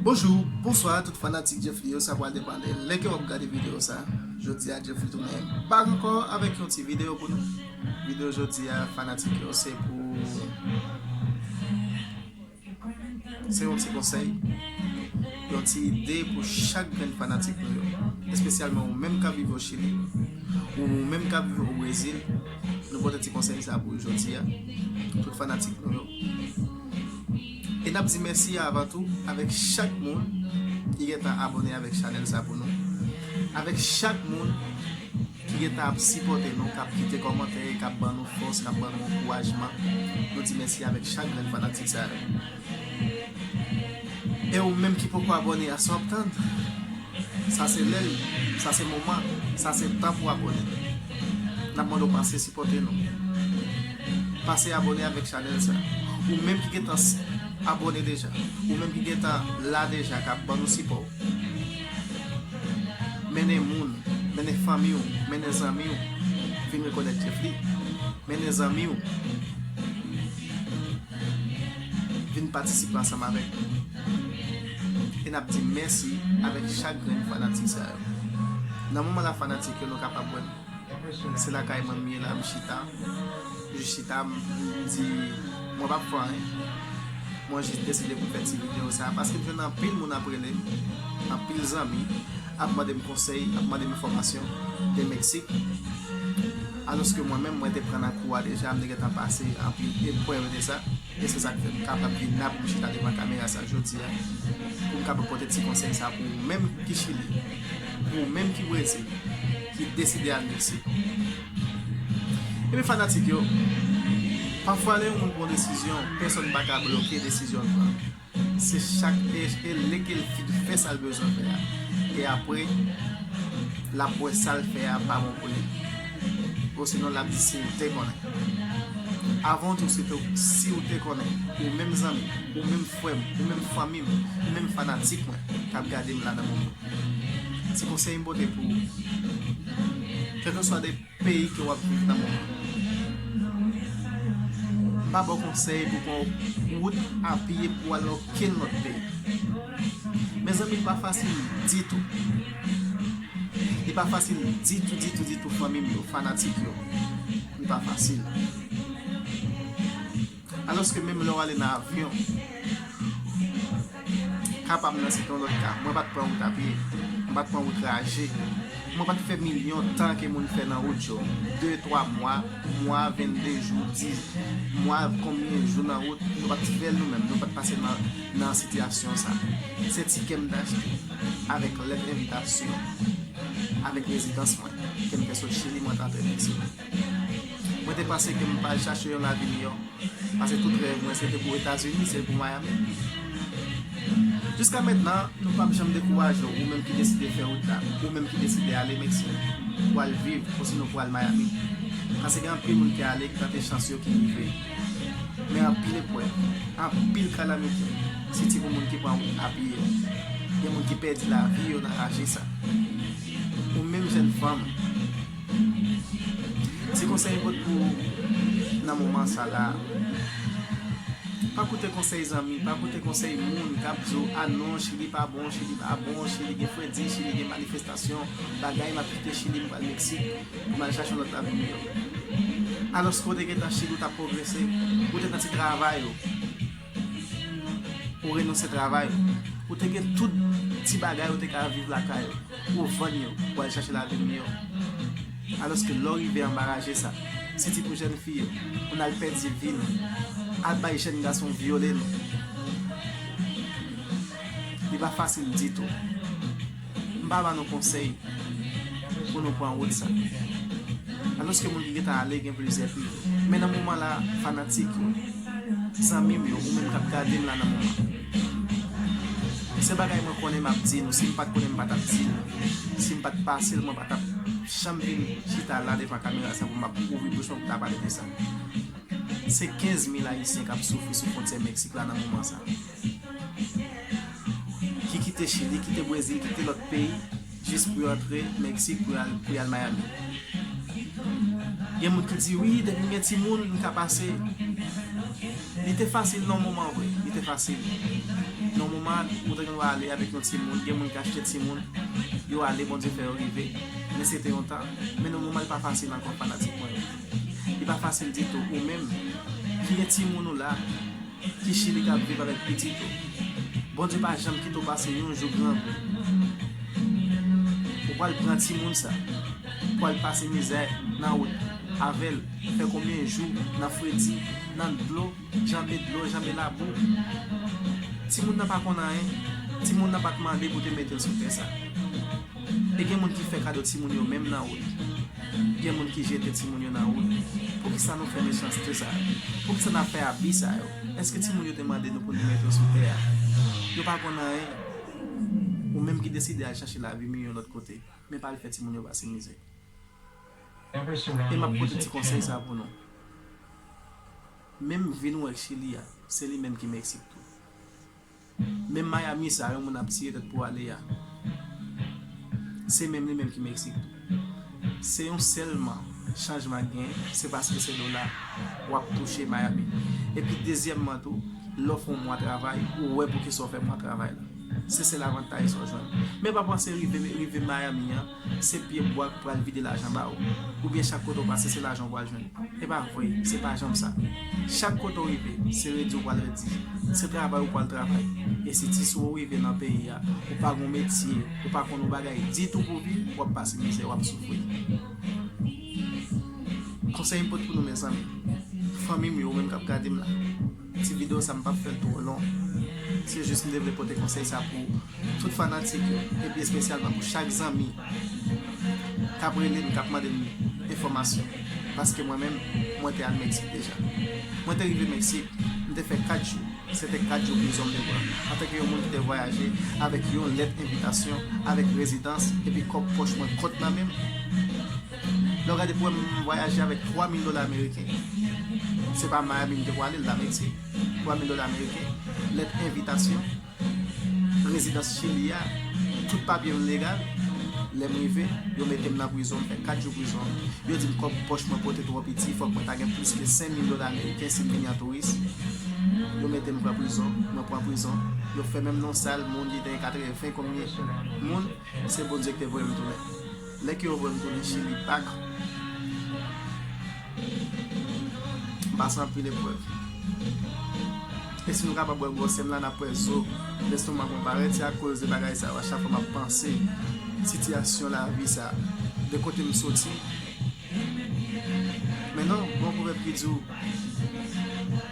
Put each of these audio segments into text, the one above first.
Bonjou, bonswa tout fanatik Jeffly yo sa pral depande lè ke wap gade video sa Jodi a Jeffly tounen bak ankò avèk yon ti video pou nou Video jodi a fanatik yo se pou Se yon ti konsèy Yon ti ide pou chak grenn fanatik nou yo Espesyalman ou menm kap viv o Chili Ou menm kap viv o Brezil Nou pote ti konsèy sa pou jodi a tout fanatik nou yo. E nap di mèsi avan tou avèk chak moun ki gentan abone avèk chanèl sa pou nou. Avèk chak moun ki gentan ap sipote nou, kap kite komantè, kap ban nou fòs, kap ban nou ankourajman. Nou di mèsi avèk chak grenn fanatik sa yo. E ou menm ki poko abòne a sa wap tann? Sa se lè li, sa se moman, sa se tan pou abòne. Nap mande w pase sipòte nou. Pase abòne avèk chanèl sa. Ou menm ki gentan abòne deja, ou menm ki gentan la deja kap ban nou sipò. Mennen moun, mennen fanmi w, mennen zanmi w vin rekonèt Djefli. Mennen zanmi w. vin patisipe ansanm avèk nou e nap di mèsi avèk chak grenn fanatik sa yo nan moman la fanatik yo nou kapab wèm se lakay mwen m ye la m chita jis chita m di mwen pap fè anyen mwen jis deside pou m fè ti video sa paske m jwenn anpil moun ap relem anpil zanmi ap mandem konsèy ap mandem enfòmasyon de Mexique. Alòske mwen menm, mwen te pran nan kou a deja, m te gentan pase anpil eprèv de sa, e se sa k fè m kapab vin la pou m chita devan kamera sa jodi a, pou m kapab pote ti konsèy sa pou ou menm ki Chili, pou ou menm ki Brezil, ki deside al Meksik. Ebyen fanatik yo, pafwa lè yon moun pran yon desizyon, pèsòn pa ka bloke desizyon l pran. Se chak PHP li ki l fin fè sa l bezwen fè a. E apre, l ap wè sa l fè a pa bon pou li. Osinon l ap di si l te konnen. Avantou se tou, si w te konnen, ou menm zanmi m, ou menm frè m, ou menm fanmi m, ou menm fanatik mwen k ap gade m la nan moman. Ti konsèy m pote pou ou. Kèlkeswa de. Peyi ke wap viv nan moman an. M pa baw konsèy pou pran yon wout a pye pou al nan okenn lòt peyi. Mezanmi li pa fasil ditou. Li pa fasil ditou ditou ditou fanmim yo, fanatik yo. Li pa fasil. Alòske menm lè w ale nan avyon, ka pa m nan se te yon lòt ka, mwen pa t pran wout apye, mwen pa t pran wout raje, mwen pa t fè milyon tan ke moun fè nan wout yo, de, twa mwa, mwa, vennde jou, di mwa, konbyen jou nan wout, nou pa t fè l nou menm, nou pa t pase nan sitiyasyon sa. Se tikè m te achte avèk lèt envitasyon, avèk rezidans mwen, ke m te sot Chili mwen te antre Meksik. Mwen te panse ke m ta al chache yon lavi miyò, pase tout rèv mwen se te pou Etazini, se pou Miami. Jiska mentnan, nou pap janm dekouraje w, ou menm ki deside fè wout la, ou menm ki deside ale Meksik pou al viv, osinon pou al Miami. Pase gen anpil moun ki ale, ki tante chans yo, ki rive. Men anpil eprèv, anpil kalamite, siti pou moun ki pran wout a pye. Gen moun ki pèdi lavi yo nan raje sa. Ou menm jenn fanm. Ti konsèy m pot pou ou nan moman sa la, pa koute konsèy zanmi, pa koute konsèy moun kap di w a non chili pa bon, chili pa bon, chili gen fredi, chili gen manifestasyon, bagay map kite chili m pral meksik pou m al chache yon lòt lavi miyò. Alòske w te gentan chili ou tap pwogrese, ou te nan ti travay ou. Ou renonse travay ou. Ou te gen tout ti bagay ou te ka viv lakay ou. Ou vann yo pou al chache lavi miyò. Alòske lè w rive anba raje sa, se di pou jèn fi yo, pou n al pèdi vi nou, al bay jèn gason vyole nou. Li pa fasil ditou. m pa ba nou konsèy pou nou pran wout sa. Alòske moun ki gentan ale gen plizyè pi. Men nan moman la, fanatik yo, zanmi m yo, ou menm k ap gade m la nan moman. Se bagay mwen konnen m ap di nou, si m pa t konnen m pa t ap di nou. Si m pa t pase l mwen pa t ap janm vin chita la devan kamera sa pou m ap ouvri bouch mwen pou m ta pale de sa. Se 15 mil ayisyen k ap soufri sou fwontyè Meksik la nan moman sa. ki kite Chili, kite Brezil, kite lòt peyi jis pou yo antre Meksik pou yo al Miami. Gen moun ki di wi depi m gen timoun m ka pase. Li te fasil nan yon moman vre, li te fasil. Nan yon moman ou te gen dwa ale avèk yon timoun, gen moun ki achte timoun, yo ale Bondye fè yo rive. Men se te yon tan, men nan yon moman li pa fasil ankò fanatik mwen yo. Li pa fasil ditou, ou menm ki gen timoun ou la, Ki chili kap viv avèk pitit ou. Bondye pa janm kite w pase yon jou grangou. Ou pral pran timoun sa. Ou pral pase mizè nan wout avè l. Fè konbyen jou nan fredi, nan dlo, janbe dlo, janbe labou. Timoun nan pa konn anyen. Timoun nan pat mande pou te mete l sou tè sa. E gen moun ki fè kado timoun yo menm nan wout. Gen moun ki jete timoun yo nan wout. Poukisa nou fè mechanste sa yo? Poukisa n ap fè abi sa yo? Èske timoun yo te mande nou pou nou met yo sou tè a? Yo pa konn anyen. Ou menm ki deside al chache lavi miyò yon lòt kote, men pa al fè timoun yo pase mizè. E m ap pote ti konsèy sa pou nou. Menm vi nou wè k Chili a, se li menm ki Meksik tou. Menm Miami sa yon moun ap tire tèt pou ale a se menm li menm ki Mexique tou. Se yon sèlman chanjman k gen se paske se dola wap touche Miami. Epi dezyèmman tou lè w fè yon mwa travay ou wè poukisa w fè mwa travay la. Se sèl avantaj sa w jwenn. Men pa panse rive Miami an. Se pye bwa ki pral vide lajan ba ou. Oubyen chak kote ou pase se lajan ou pral jwenn. E pa vre, se pa janm sa. Chak kote ou rive, se redi ou pral redi. Se travay ou pral travay. E si ti sou ou rive nan peyi a, ou pa gon metye, ou pa konn yon bagay ditou pou viv, w ap pase mizè, w ap soufri. Konsèy m pot pou nou mezanmi, fanmi m yo, ou menm k ap gade m la. Ti video sa m pap fèl two long se jis m te vle pote konsèy sa pou tout fanatik yo e pi espesyalman pou chak zanmi kap rele m kap mande m enfòmasyon paske mwen menm mwen te al Meksik deja mwen te rive Meksik m te fè 4 jou se te 4 jou prizon m te pran antanke yon moun ki te vwayaje avèk yon lèt envitasyon avèk rezidans e pi kòb pòch mwen kont nan menm. Lè w gade pou wè m vwayaje avèk 3000 dola ameriken, se pa Miami m te pwale l la mesi, 3000 dola ameriken, lèt envitasyon, rezidans chili a, tout papye m legal, lè m rive, yo mete m nan prizon, m fè 4 jou prizon, yo di m kòb pòch mwen pote twò piti, fòk mwen ta gen plis ke 5000 dola ameriken si m vini an touris, yo mete m pran prizon, mwen pran prizon, yo fè menm nan yon sal moun ki te gen 80 konbyen moun. Mwen se Bondye ki te voye m tounen. Lè ke yo voye m tounen chili back m pase anpil eprèv. E si nou kapab wè gwosè m la nap wè zo lestomak mwen parèt se akoz de bagay sa yo a chak fwa map panse sitiyasyon lavi sa de kote m soti men non gon pwovèb ki di w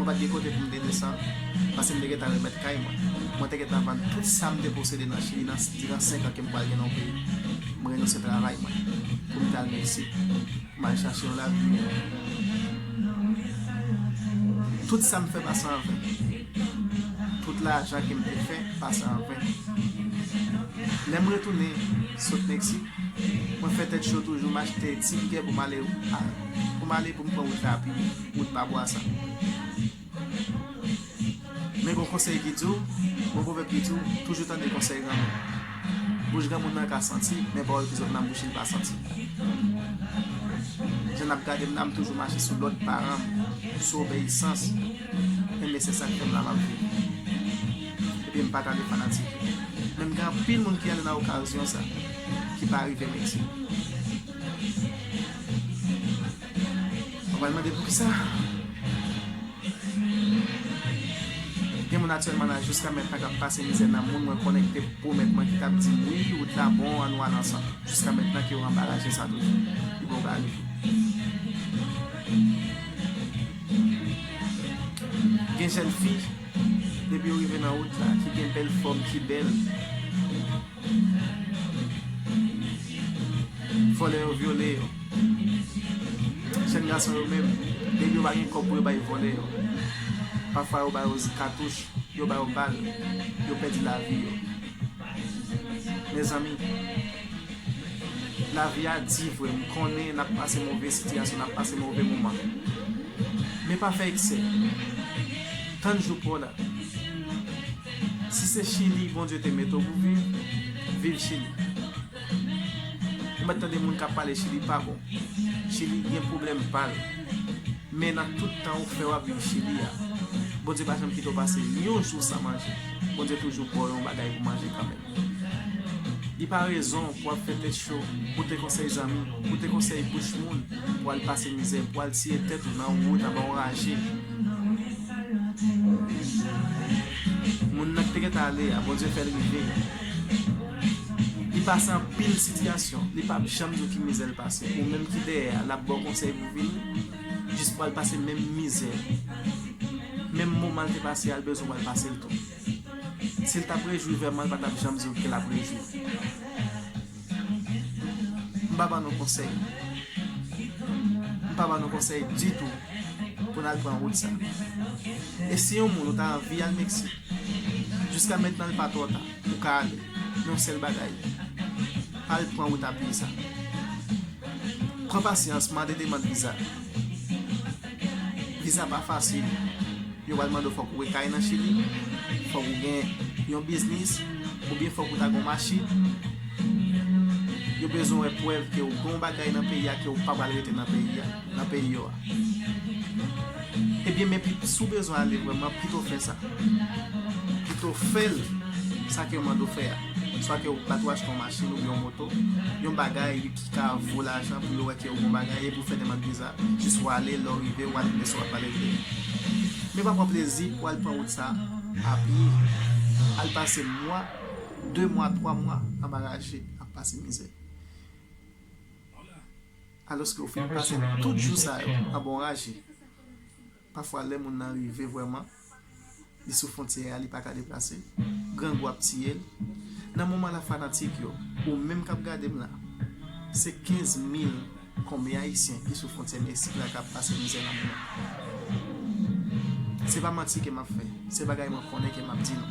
Mwen pa t gen kote pou m te desann, pase m te gentan remèt kay mwen. Mwen te gentan vann tout sa m te posede nan Chili nan diran senk an ke m pral gen nan yon peyi. M renonse travay mwen pou m t al Meksik, m al chache yon lavi miyò. Tout sa m fè pase an ven. Tout lajan ke m te fè pase an ven. Lè m retounen sot Meksik, mwen fè tèt cho toujou, m achte ti biyè pou m ale pou m pran wout rapi. Wout pa bwa sa. Men gon konsèy ki di w, gon pwovèb ki di w, toujou tande konsèy granmoun. Bouch granmoun nan ka santi, men pawòl ki sot nan bouch li pa santi. Jan n ap gade m la, m toujou mache sou lòd paran m, sou obeyisans, enben se sa k fè m la m ap viv. Ebyen m pa tande fanatik yo. Men m gen anpil moun ki ale nan okazyon sa, ki pa rive mete. Mwen pral mande poukisa gen moun aktyèlman la jiska mètnan kap pase mizè nan moun mwen konnen ki te pwomèt mwen ki tap dim wi ou ta bon an nou al ansanm jiska mètnan ki yo anba laje sa toujou pi bon bagay gen jèn fi depi yo rive nan wout la ki gen bèl fòm ki bèl. Vòlè yo vyole yo. Jèn gason yo menm, depi yo pa gen kòb pou yo bay vòlè yo. Pafwa yo ba yo katouch, yo ba yo bal, yo pèdi lavi yo. Mezanmi, lavi a di vre, m konnen n ap pase move sitiyasyon, n ap pase move moman. Men pa fè eksè. Tann jou pa w la. Si se chili bondye te mete w pou viv viv chili ou mèt tande moun kap pale chili pa bon chili gen pwoblèm pal men nan tout tan ou fè wap viv chili a bondye pa janm kite w pase yon jou san manje bondye toujou baw yon bagay pou manje kanmenm. Li pa rezon pou ap fè tèt cho, koute konsèy zanmi, koute konsèy bouch moun pou al pase mizè, pou al tiye tèt ou nan wout anba yon raje. Moun nan ki te gentan ale a, Bondye fè l rive. Li pase anpil sitiyasyon, li pap janm di w ki mizè l pase. Ou menm ki dèyè a, l ap ba w konsèy pou vini, jis pou al pase menm mizè, menm moman l te pase a, l bezwen pou al pase l tou. Si l t ap rejwi vèman l pa t ap janm di w ke l ap rejwi. M pa ban nou konsèy. M pa ban nou konsèy ditou pou n al pran wout sa. E si yon moun ou ta anvi al Meksik, jiska mentnan l pa twò ta, ou ka ale. Men yon sèl bagay, pa al pran wout apye sa. Pran pasyans, mande demand viza. Visa pa fasil, yo pral mande w fòk ou gen kay nan Chili, fòk ou gen yon biznis, oubyen fòk ou ta gen yon machin. Yo bezwen wè prèv ke ou gen yon bagay nan peyi a ke ou pa pral rete nan peyi a, nan peyi yo a. Ebyen men pi si w bezwen ale vrèman pito w fè sa. Pito w fè l sa ke yo mande w fè a. Swa ke ou pral tou achte yon machin oubyen yon moto, yon bagay. ka vo lajan pou yo wè ke ou bon bagay e pou fè demand viza jis wale lè w rive wal vle sa wap pale vre men pa pran plezi pou al pran wout sa a pye al pase mwa 2 mwa 3 mwa anba raje ap pase mizè aloske ou fin pase tout jou sa yo anba yon raje. Pafwa lè moun nan rive vrèman, li sou fontyè a, li pa ka deplase, grangou ap tiye l. Nan moman la fanatik yo, ou menm kap gade m la, se 15 mil konbyen ayisyen ki sou fontyè Meksik la kap pase mizè nan moman. Se pa manti ke map fè, se bagay mwen konnen ke map di nou.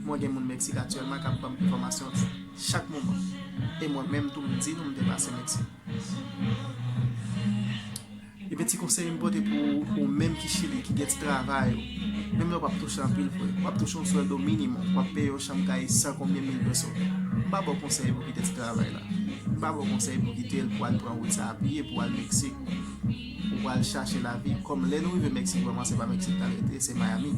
Mwen gen moun Meksik aktyèlman kap banm enfòmasyon chak moman. E mwen menm tou m di nou m te pase Meksik. Ebyen ti konsèy m pote pou ou menm ki chili ki gen ti travay ou menm lè w pap touche anpil vre wap touche yon swèldo minimòm wap peye yon chanm kay 100 konbyen mil peso m pa ba w konsèy pou kite ti travay la m pa ba w konsèy pou kite l pou al pran wout sa a pye pou al meksik ou pral chache lavi kòm lè nou rive meksik vrèman se pa meksik ta rete se mayami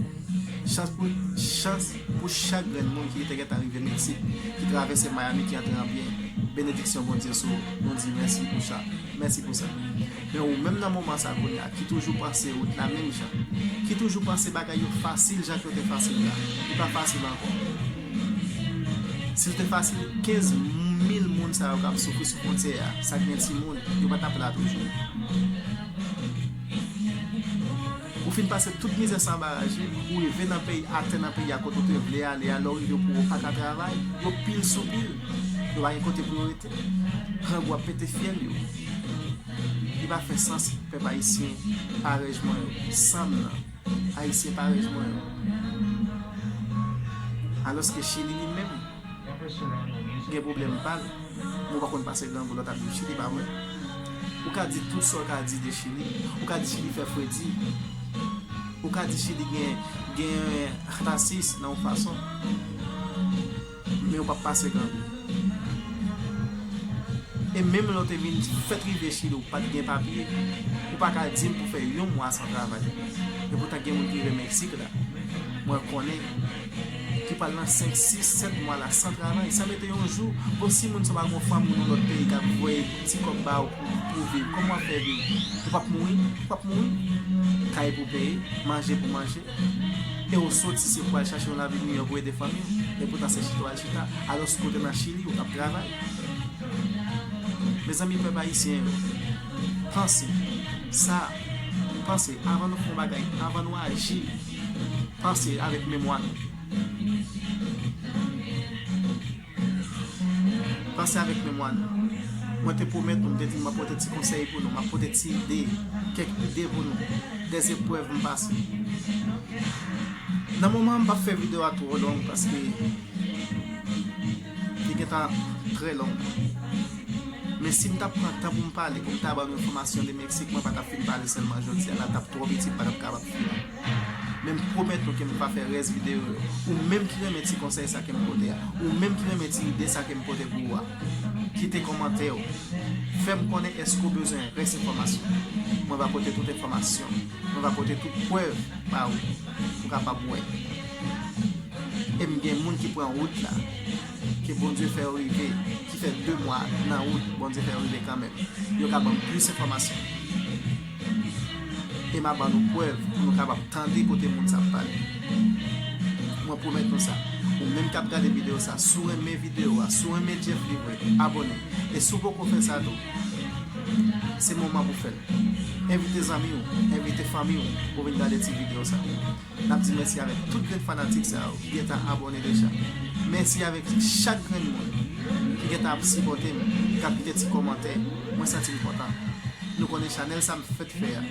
chans pou chans pou chak grenn moun ki te gentan rive meksik ki travèse mayami ki antre an byen benediksyon bondye sou ou nou di mèsi pou sa. Mèsi pou sa. Men ou menm nan moman sa kounye a ki toujou panse ou t la menm jan, ki toujou panse bagay yo fasil jan k yo te fasil la, li pa fasil ankò. Si l te fasil, 15 mil moun sa yo k ap soufri sou fwontyè a, sa k gen timoun, yo pa t ap la toujou. Ou fin pase tout mizè san baraje, ou rive nan peyi, atè nan peyi a kote ou te vle ale a, lè ou rive pou ou pa ka travay, yo pil sou pil, yo pa gen kote pou yo rete. Grangou ap pete fyèl yo. Li pa fè sans pèp ayisyen parèj mwen yo, sanm nan, ayisyen parèj mwen yo. Alòske chili li menm gen pwoblèm pa l, nou pa konn pase grangou lòt ap viv chili pa vre? Ou ka di tout sa w ka di de chili, ou ka di chili fè fredi, ou ka di chili gen rasis nan yon fason. Men yo pap pase grangou. E menm lè w te vin fèt rive Chili w pat gen papye, ou pa ka di m pou fè yon mwa san travay. E poutan gen moun ki rive Meksik la, mwen konnen, ki pral nan 5, 6, 7 mwa la san travay, san mete yon jou, bon si moun sa w pa gen yon fanmi nan lòt peyi kap voye ti kòb ba w pou viv, kòman wap fè viv? Ou pap mouri? Ou pap mouri? Kay pou peye, manje pou manje. e ou soti se pou al chache yon lavi miyò pou ede fanmi ou, e poutan se chita w al chita, alos ke w te nan Chili ou t ap travay. Mezanmi pèp ayisyen yo, panse, sa, panse avan nou fè yon bagay, avan nou aji, panse avèk memwa nou. Panse avèk memwa nou. Mwen te pwomèt nou, m te di nou m ap pote ti konsèy pou nou, m ap pote ti ide, kèk ide pou nou, de zeprèv m pase. Nan moman an m pap fè video a twò long paske li gentan trè long. Men si m tap pran tan pou m pale, pou m ta ba nou enfòmasyon de Meksik, mwen pa tap fin pale sèlman jodi a, la tap twò piti m pa tap kapab fini. Men m pwomèt nou ke m pa fè rès videyo yo. Ou menm ki renmen ti konsèy sa ke m pote a, ou menm ki renmen ti ide sa ke m pote pou ou a, kite kòmantè ou. Fè m konnen èske ou bezwen rès enfòmasyon. Mwen va pote tout enfòmasyon. Mwen va pote tout prèv ba ou pou kapab wè. E m gen moun ki pran wout la, ke Bondye fè yo rive, ki fè 2 mwa nan wout, Bondye fè yo rive kanmenm. Yo ka ban m plis enfòmasyon. e m ap ban nou prèv pou nou kapab tande kote moun sa ap pale. Mwen pwomèt nou sa, ou menm k ap gade videyo sa, si w renmen videyo a, si w renmen Jeff li vre, abone. E si w poko fè sa tou, se moman pou w fè l. Envite zanmi w, envite fanmi w pou vin gade ti videyo sa. Nap di mèsi avèk tout grenn fanatik sa yo ki gentan abòne deja. Mèsi avèk chak grenn moun ki gentan ap sipòte m, ki ap kite ti kòmantè. Mwen santi m kontan. Nou konnen chanèl sa m fèt fè a.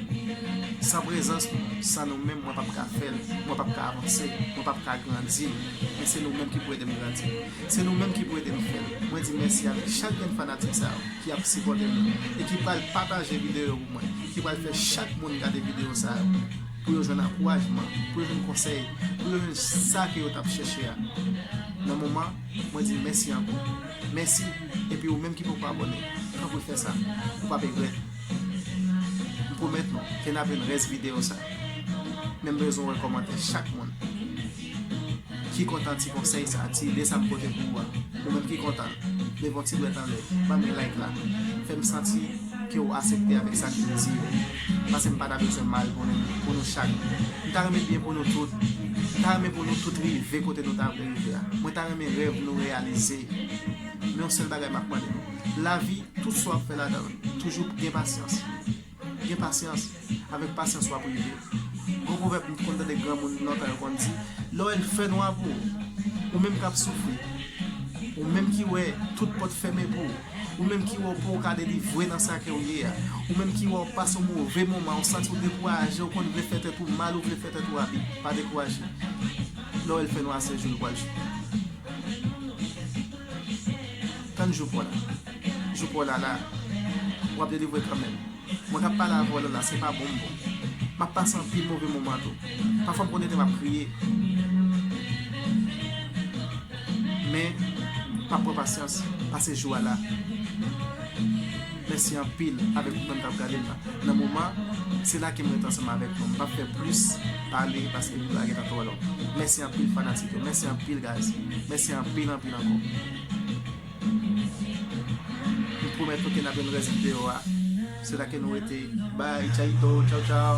San prezans nou, san nou menm mwen pap ka fè l, mwen pap ka avanse, mwen pap ka grandi. Men se nou menm ki pou ede m grandi. Se nou menm ki pou ede m fè l. Mwen di mèsi avèk chak grenn fanatik sa yo ki ap sipòte m yo e ki pral pataje videyo yo pou mwen, ki pral fè chak moun gade videyo sa yo. pou yo jwenn ankourajman, pou yo jwenn konsèy, pou yo jwenn sa ke yo t ap chèche a. Nan moman, mwen di mèsi ankò. Mèsi, epi ou menm ki poko abòne, tanpri fè sa. Ou pap egrèt. M pwomèt nou ke n ap jwenn rès videyo sa. Men m bezwen wè kòmantè chak moun. Ki kontan ti konsèy sa ti ide sa m pote pou ou a ou menm ki kontan leve yon ti dwèt anlè banm yon like la fèm santi ke ou asepte avèk sa kem di yo pase m pa ta bezwen mal pou nou pou nou chak m ta renmen byen pou nou tout m ta renmen pou nou tout rive kote nou ta vle rive a mwen ta renmen rèv nou reyalize men yon sèl bagay map mande nou lavi tout sa wap fè ladanl toujou gen pasyans. Gen pasyans, avèk pasyans wap rive. Gon pwovèb m t konn tande granmoun lontan yo konn di, lè w wè l fè nwa pou w, ou menm kap soufri, ou menm ki wè tout pòt fèmen pou w, ou menm ki wè w pouw ka delivre nan sa ke w ye a, ou menm ki wè w pase yon move moman, ou santi w dekouraje, ou konn vle fè tèt ou mal, ou vle fè tèt ou abi, pa dekouraje. Lè w wè l fè nwa se jou l pwal jou. Tann jou paw la. Jou paw la la. Wap delivre kanmenm. Mwen kap pale avèw la la se pa bon m bon. Map pase anpil move moman tou. Pafwa m konn rete map kriye. Men map pran pasyans pase jou a la. Mèsi anpil avèk ou menm kap gade m la. Nan moman se la kem ret ansanm avèk nou. M pap fè plis pale paske jou a gentan twò long. Mèsi anpil fanatik yo. Mèsi anpil guys. Mèsi anpil anpil ankò. Tout pwomès ok nap jwenn rès video a se la ke nou rete bye chayito chow chow.